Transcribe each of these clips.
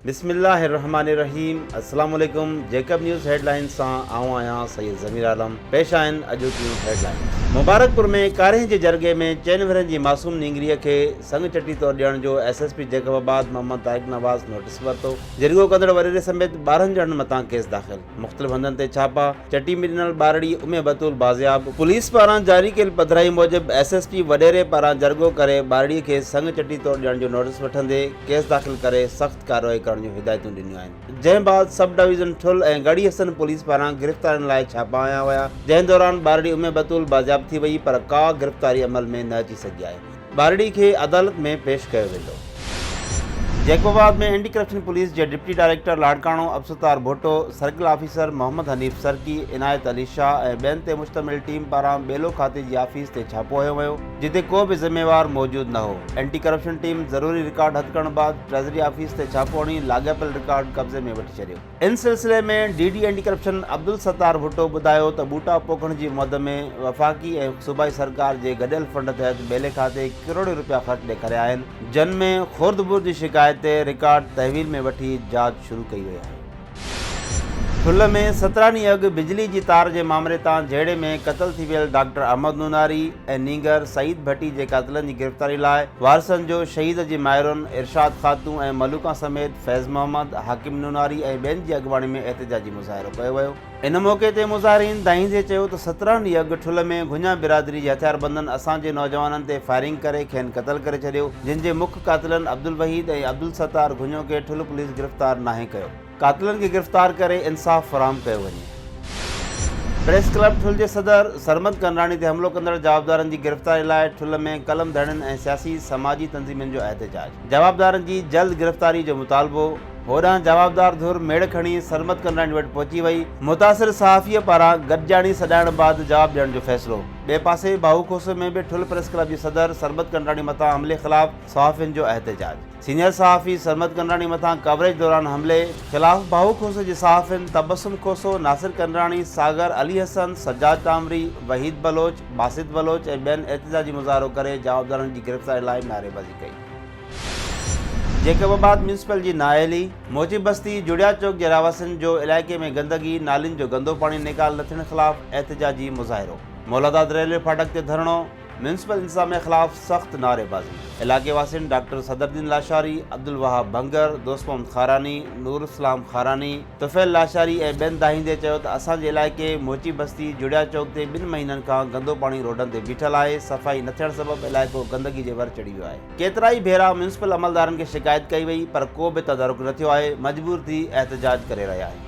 بسم الله الرحمٰن الرحيم السلام عليڪم جيڪب نيوز هيڊلائينز سان آئون آهيان سيد ضمير عالم پيش آهن اڄوڪيون هيڊلائينز مبارڪپور ۾ ڪاريهن جي جرڳي ۾ چئن ورهين جي معصوم نينگري کي سڱ چٽي طور ڏيڻ جو S S P Jacobabad Muhammad Tariq Nawaz notice ورتو جرڳو ڪندڙ وريري سميت ٻارهن ڄڻن مٿان ڪيس داخل مختلف هنڌن تي ڇاپا چٽي ۾ ڏنل ٻارڙي امي بتول بازياب. پوليس پاران جاري ڪيل پڌرائي موجب ايس ايس ٽي وڏيري پاران جرڳو ڪري ٻارڙي کي سڱ چٽي طور ڏيڻ جو نوٽيس وٺندي ڪيس داخل ڪري سخت ڪارروائي ڪرڻ جون هدايتون ڏنيون آهن جنهن بعد sub division Thul ۽ Garhi Hassan police پاران گرفتارين لاء ڇاپا هنيا ويا جنهن دوران ٻارڙي امي بتول بازياب ٿي وئي پر ڪا گرفتاري عمل ۾ نه اچي سگهي آهي. ٻارڙي کي عدالت ۾ پيش ڪيو ويندو. جيڪوباد ۾ اينٽي ڪرپشن پوليس جي deputy director Larkana Abdul Sattar Bhutto, circle officer Muhammad Hanif Sarki, Inayat Ali Shah ۽ ٻين تي مشتمل ٽيم پاران ٻيلو کاتي جي آفيس تي ڇاپو هنيو ويو، جتي ڪو به ذميوار موجود نه هو، اينٽي ڪرپشن ٽيم ضروري رڪارڊ هٿ ڪرڻ بعد ٽريزري آفيس تي ڇاپو هڻي لاڳاپيل رڪارڊ قبضي ۾ وٺي ڇڏيو. ان سلسلي ۾ D D anti corruption Abdul Sattar Bhutto ٻڌايو ته ٻوٽا پوکڻ جي مد ۾ وفاقي ۽ صوبائي سرڪار جي گڏيل فنڊ تحت ٻيلي کاتي ڪروڙين رپيا خرچ ڏيکاريا آهن جن ۾ خورد برد جي شڪايت تي رڪارڊ تحويل ۾ وٺي جاچ شروع ڪئي وئي آهي. ٺل ۾ سترهن ڏينهن اڳ بجلي جي تار جي مامري تان جهيڙي ۾ قتل ٿي ويل ڊاڪٽر احمد نوناري ۽ نينگر سعيد ڀٽي جي قاتلن جي گرفتاري لاء وارثن جو شهيد جي مائرن ارشاد خاتون ۽ ملوڪان سميت فيض محمد، حاڪم نوناري ۽ ٻين جي اڳواڻي ۾ احتجاجي مظاهرو ڪيو ويو. ان موقعي تي مظاهرين دانهيندي چيو ته سترهن ڏينهن اڳ ٺل ۾ گهڃا برادري جي هٿياربندن اسان جي نوجوانن تي فائرنگ ڪري کين قتل ڪري ڇڏيو جن جي مک قاتلن عبدالوحيد ۽ عبدالستار گهڃو کي ٺل پوليس گرفتار ناهي ڪيو. قاتلن کي گرفتار ڪري انصاف فراهم ڪيو وڃي. پريس ڪلب ٺل جي صدر سرمد ڪنراڻي تي حملو ڪندڙ جوابدارن جي گرفتاري لاء ٺل ۾ قلم ڌڻين ۽ سياسي سماجي تنظيمن جو احتجاج. جوابدارن جي جلد گرفتاري جو مطالبو، هوڏانهن جوابدار ڌر ميڙ کڻي سرمد ڪنرائڻي وٽ پهچي وئي، متاثر صحافيء پاران گڏجاڻي سڏائڻ بعد جواب ڏيڻ جو فيصلو، ٻئي پاسي بهو کوسي ۾ به ٺل پريس ڪلب جي صدر سرمد ڪنرائڻي مٿان حملي خلاف صحافين جو احتجاج، سينيئر صحافي سرمد ڪنرائڻي مٿان ڪوريج دوران حملي خلاف بهو کوسي جي صحافين تبسم کوسو، ناصر ڪنرائڻي، ساگر، علي حسن، سجاد ٽامري، وحيد بلوچ، باسط بلوچ ۽ ٻين احتجاجي مظاهرو ڪري جوابدارن جي گرفتاري لاء نعريبازي ڪئي. ڪئي. جيڪب آباد ميونسپل جي نااهلي موجب بستي جڙيا چوڪ جي رهواسين جو علائقي ۾ گندگي، نالين جو گندو پاڻي نيڪال نه ٿيڻ خلاف احتجاجي مظاهرو، مولاداد ريلوي ڦاٽڪ تي ڌرڻو، ميونسپل انتظاميا خلاف سخت نعري بازي، علائقي واسين ڊاڪٽر صدرالدين لاشاري، عبدالوهاب ڀنگر، دوست محمد خاراني، نوراسلام خاراني، طفيل لاشاري ۽ ٻين دانهيندي چيو ته اسان جي علائقي موچي بستي جڙيا چوڪ تي ٻن مهينن کان گندو پاڻي روڊن تي بيٺل آهي، صفائي نه ٿيڻ سبب علائقو گندگي جي ور چڙهي ويو آهي. ڪيترائي ڀيرا ميونسپل عملدارن کي شڪايت ڪئي وئي پر ڪو به تدارڪ نه ٿيو آهي، مجبور ٿي احتجاج ڪري رهيا آهيون.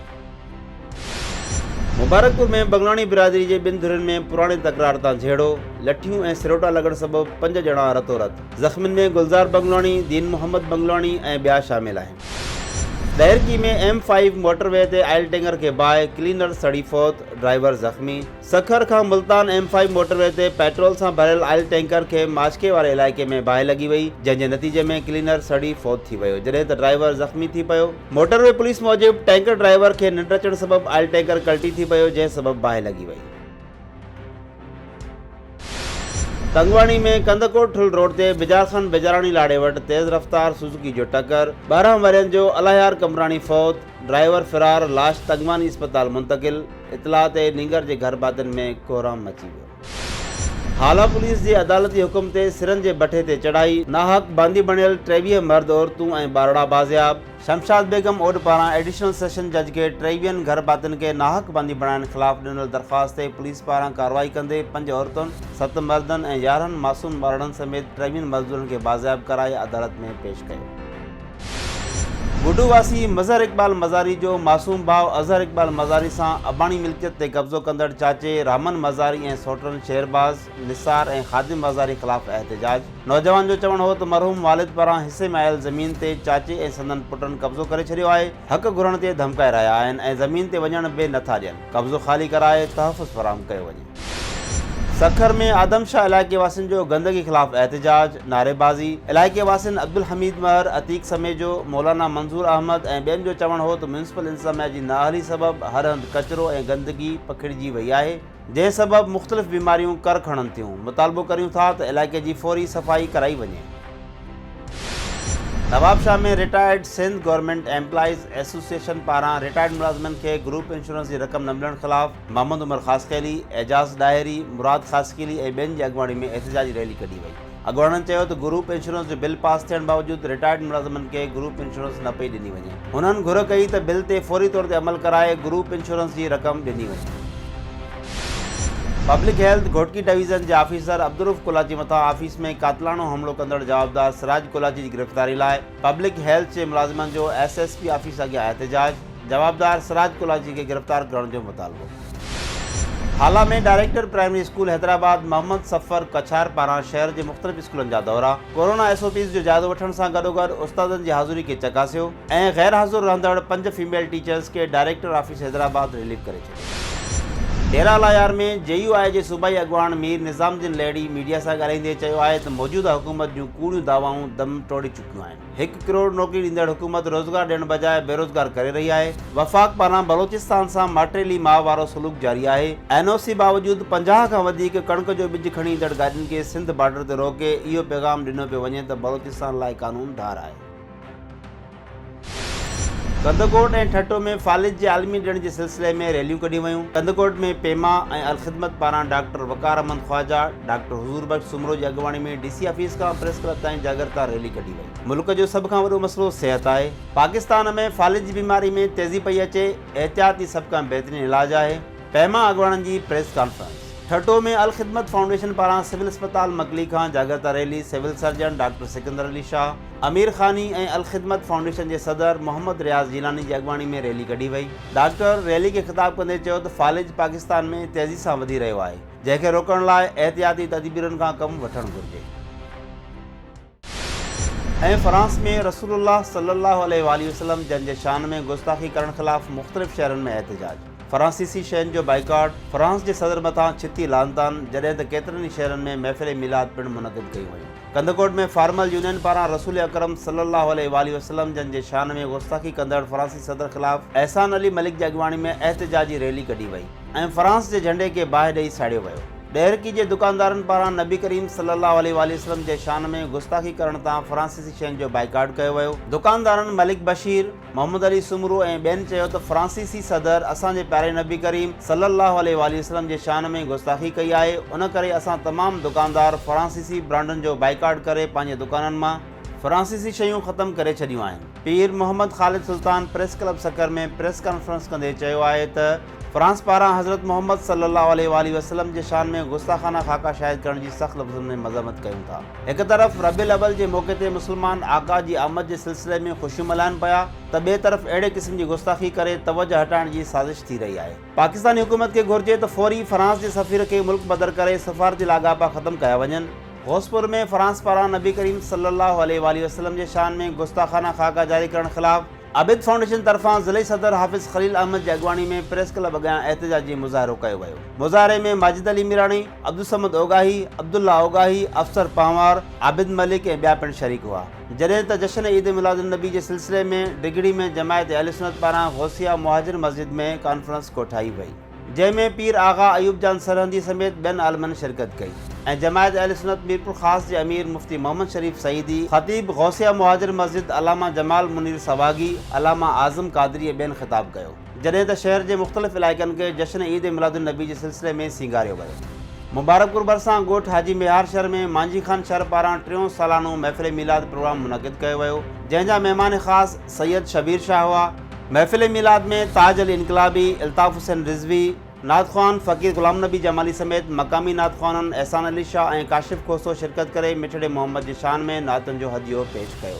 مبارڪپور ۾ بنگلاڻي برادري جي ٻن ڌرين ۾ پراڻي تڪرار تان جهيڙو، لٺيون ۽ سروٽا لڳڻ سبب پنج ڄڻا رتو رت، زخمين ۾ گلزار بنگلاڻي، دين محمد بنگلاڻي ۽ ٻيا شامل آهن. Daharki ۾ M five motorway تي آئل ٽينڪر کي باهه، ڪلينر سڙي فوت، ڊرائيور زخمي. سکر کان Multan M five motorway تي پيٽرول سان ڀريل آئل ٽينڪر کي ماشڪي واري علائقي ۾ باهه لڳي وئي، جنهن جي نتيجي ۾ ڪلينر سڙي فوت ٿي ويو، جڏهن ته ڊرائيور زخمي ٿي پيو. موٽر وي پوليس موجب، ٽينڪر ڊرائيور کي ننڊ اچڻ سبب آئل ٽينڪر ڪلٽي ٿي پيو، جنهن سبب باهه لڳي وئي. تنگواڻي ۾ ڪنڌڪوٽ ٺل روڊ تي بجار خان بيجاراڻي لاڙي وٽ تيز رفتار سوزوڪي جو ٽڪر، ٻارهن ورهين جو الاهيار قمبراڻي فوت، ڊرائيور فرار، لاش تنگواني اسپتال منتقل، اطلاع تي نينگر جي گهر ڀاتين ۾ ڪوهرام مچي ويو. هالا پوليس جي عدالتي حڪم تي سرن جي بٺي تي چڙهائي، ناحق باندي بڻيل ٽيويهه مرد عورتون ۽ ٻارڙا بازياب. شمشاد بيگم اوڏ پاران ايڊيشنل سيشن جج کي ٽي ويهن گهر ڀاتين کي ناحق بندي بڻائڻ خلاف ڏنل درخواست تي پوليس پاران ڪارروائي ڪندي پنج عورتن، ست مردن ۽ يارهن معصوم ٻارڙن سميت ٽيويهن مزدورن کي بازياب ڪرائي عدالت ۾ پيش ڪيو. بوڊو واسي مظهر اقبال مزاري جو معصوم ڀاء اظهر اقبال مزاري سان اباڻي ملڪيت تي قبضو ڪندڙ چاچي رحمن مزاري ۽ سوٽرن شهرباز، نثار ۽ خادم بازاري خلاف احتجاج، نوجوان جو چوڻ هو ته مرحوم والد پاران حصي ۾ آيل زمين تي چاچي ۽ سندن پٽن قبضو ڪري ڇڏيو آهي، حق گهرڻ تي ڌمڪائي رهيا آهن ۽ زمين تي وڃڻ به نه ٿا ڏين، قبضو خالي ڪرائي تحفظ فراهم ڪيو وڃي. سکر ۾ آدم شاهه علائقي واسين جو گندگي خلاف احتجاج، نعريبازي، علائقي واسين عبدالحميد مهر، عتيق سميجو، مولانا منظور احمد ۽ ٻين جو چوڻ هو ته ميونسپل انتظاميا جي نااهلي سبب هر هنڌ ڪچرو ۽ گندگي پکڙجي وئي آهي، جنهن سبب مختلف بيماريون ڪر کڻن ٿيون، مطالبو ڪريون ٿا ته علائقي جي فوري صفائي ڪرائي وڃي. Nawabshah ۾ retired Sindh government employees association پاران رٽائرڊ ملازمن کي گروپ انشورنس جي رقم نه ملڻ خلاف محمد عمر خاصخيلي، اعجاز ڏاهري، مراد خاصخيلي ۽ ٻين جي اڳواڻي ۾ احتجاجي ريلي ڪڍي وئي. اڳواڻن چيو ته گروپ انشورنس جو بل پاس ٿيڻ باوجود رٽائرڊ ملازمن کي گروپ انشورنس نه پئي ڏني وڃي، هنن گهر ڪئي ته بل تي فوري طور تي عمل ڪرائي گروپ انشورنس جي رقم ڏني وڃي. پبلڪ هيلٿ گهوٽڪي ڊويزن جي آفيسر عبدالروف ڪولاچي مٿان آفيس ۾ قاتلاڻو حملو ڪندڙ جوابدار سراج ڪولاچي جي گرفتاري لاء پبلڪ هيلٿ جي ملازمن جو ايس ايس پي آفيس اڳيان احتجاج، جوابدار سراج ڪولاچي کي گرفتار ڪرڻ جو مطالبو. Hala ۾ director primary school Hyderabad Muhammad Safar Kachhar پاران شهر جي مختلف اسڪولن جا دورا، ڪورونا ايس او پيز جو جائزو وٺڻ سان گڏوگڏ استادن جي حاضري کي چڪاسيو ۽ غيرحاضر رهندڙ پنج فيميل ٽيچرز کي ڊائريڪٽر آفيس حيدرآباد رليف ڪري ڊيرا لايار ۾ جي يو آء جي صوبائي اڳواڻ مير نظام الدين لهڙي ميڊيا سان ڳالهائيندي چيو آهي ته موجوده حڪومت جون ڪوڙيون دعوائون دم ٽوڙي چڪيون آهن، هڪ ڪروڙ نوڪري ڏيندڙ حڪومت روزگار ڏيڻ بجاء بيروزگار ڪري رهي آهي، وفاق پاران بلوچستان سان ماٽيلي ماء وارو سلوڪ جاري آهي، اين او سي باوجود پنجاهه کان وڌيڪ ڪڻڪ جو ٻج کڻي ايندڙ گاڏين کي سنڌ بارڊر تي روڪي اهو پيغام ڏنو پيو وڃي ته بلوچستان لاء قانون ڌار آهي. ڪنڌڪوٽ ۽ ٺٽو ۾ فالج جي عالمي ڏيڻ جي سلسلي ۾ ريليون ڪڍيون ويون، ڪنڌڪوٽ ۾ پيما ۽ الخدمت پاران ڊاڪٽر وقار احمد خواجا، ڊاڪٽر حضور بخش سومرو جي اڳواڻي ۾ ڊي سي آفيس کان پريس ڪلب تائين جاڳرتا ريلي ڪڍي وئي، ملڪ جو سڀ کان وڏو مسئلو صحت آهي، پاڪستان ۾ فالج جي بيماري ۾ تيزي پئي اچي، احتياط ئي سڀ کان بهترين علاج آهي. پيما اڳواڻن جي press conference Thatta ۾ Al Khidmat foundation پاران سول اسپتال مڪلي کان جاڳرتا rally civil surgeon doctor Sikandar Ali Shah Amir Khani ۽ Al Khidmat foundation جي صدر محمد رياض جيلاني جي اڳواڻي ۾ ريلي ڪڍي وئي ڊاڪٽر ريلي کي خطاب ڪندي چيو ته فالج پاڪستان ۾ تيزي سان وڌي رهيو آهي جنهن کي روڪڻ لاء احتياطي تدبيرن کان ڪم وٺڻ گهرجي. ۽ فرانس ۾ رسول الله صلي الله عليه واٰله وسلم جن جي شان ۾ گستاخي ڪرڻ خلاف مختلف شهرن ۾ احتجاج، فرانسيسي شين جو بائيڪاٽ، فرانس جي صدر مٿان ڇتي لعنتان، جڏهن ته ڪيترن ئي شهرن ۾ محفل ميلاد پڻ منعقد ڪيون ويون. ڪنڌڪوٽ ۾ فارمل يونين پاران رسول اڪرم صلي الله عليه واٰله وسلم جن جي شان ۾ گستاخي ڪندڙ فرانسي صدر خلاف احسان علي ملڪ جي اڳواڻي ۾ احتجاجي ريلي ڪڍي وئي. ۽ فرانس جي جهنڊي کي باهه ڏئي ساڙيو ويو. ڏهرڪي جي دڪاندارن پاران نبي ڪريم صلي الله عليه واٰله وسلم جي شان ۾ گستاخي ڪرڻ تان فرانسيسي شين جو بائيڪاٽ ڪيو ويو. دڪاندارن ملڪ بشير، محمد علي سومرو ۽ ٻين چيو ته فرانسيسي صدر اسان جي پياري نبي ڪريم صلي الله عليه واٰله وسلم جي شان ۾ گستاخي ڪئي آهي ان ڪري اسان تمام دڪاندار فرانسيسي برانڊن جو بائيڪاٽ ڪري پنهنجي دڪانن مان فرانسيسي شيون ختم ڪري ڇڏيون آهن. Pir Muhammad Khalid Sultan press club Sukkur ۾ press conference ڪندي چيو آهي ته فرانس پاران حضرت محمد صلي الله عليه واٰله وسلم جي شان ۾ گستاخانه خاڪا شايع ڪرڻ جي سخت لفظن ۾ مذمت ڪيون ٿا هڪ طرف ربيع الاول جي موقعي تي مسلمان آقا جي آمد جي سلسلي ۾ خوشيون ملهائن پيا ته ٻئي طرف اهڙي قسم جي گستاخي ڪري توجه هٽائڻ جي سازش ٿي رهي آهي. پاڪستاني حڪومت کي گهرجي ته فوري فرانس جي سفير کي ملڪ بدر ڪري سفارتي لاڳاپا ختم ڪيا وڃن. غوث پور ۾ فرانس پاران نبي ڪريم صلي الله عليه واٰله وسلم جي شان ۾ گستاخانه خاڪا جاري ڪرڻ خلاف عابد فائونڊيشن طرفان ضلعي صدر حافظ خليل احمد جي اڳواڻي ۾ پريس ڪلب اڳيان احتجاجي مظاهرو ڪيو ويو. مظاهري ۾ ماجد علي ميراڻي، عبدالصمد اوڳاهي، عبدالله اوڳاهي، افسر پنهوار، عابد ملڪ ۽ ٻيا پڻ شريڪ هئا. جڏهن ته جشن عيد ميلاد النبي جي سلسلي ۾ ڊگهڙي ۾ جماعت اهلسنت پاران غوثيه مهاجر مسجد ۾ ڪانفرنس ڪوٺائي وئي جنهن ۾ پير آغا ايوب جان سرهندي سميت ٻين عالمن شرڪت ڪئي ۽ جماعت اهلسنت ميرپورخاص جي امير مفتي محمد شريف سعيدي، خطيب غوثيه مهاجر مسجد علامه جمال منير سواڳي، علامه اعظم قادري ۽ ٻين خطاب ڪيو. جڏهن ته شهر جي مختلف علائقن کي جشن عيد ميلاد النبي جي سلسلي ۾ سينگاريو ويو. مبارڪ پور ڀرسان ڳوٺ حاجي ميهار شهر ۾ مانجهي خان شر پاران ٽيون سالانو محفل ميلاد پروگرام منعقد ڪيو ويو، جنهن جا مهمان خاص سيد شبير شاهه هئا. محفل ميلاد ۾ تاج علي انقلابي، الطاف حسين رضوي، نعت خوان فقير غلام نبي جمالي سميت مقامي نعت خوانن احسان علي شاهه ۽ ڪاشف کوسو شرڪت ڪري مٺڙي محمد جي شان ۾ نعتن جو هديو پيش ڪيو.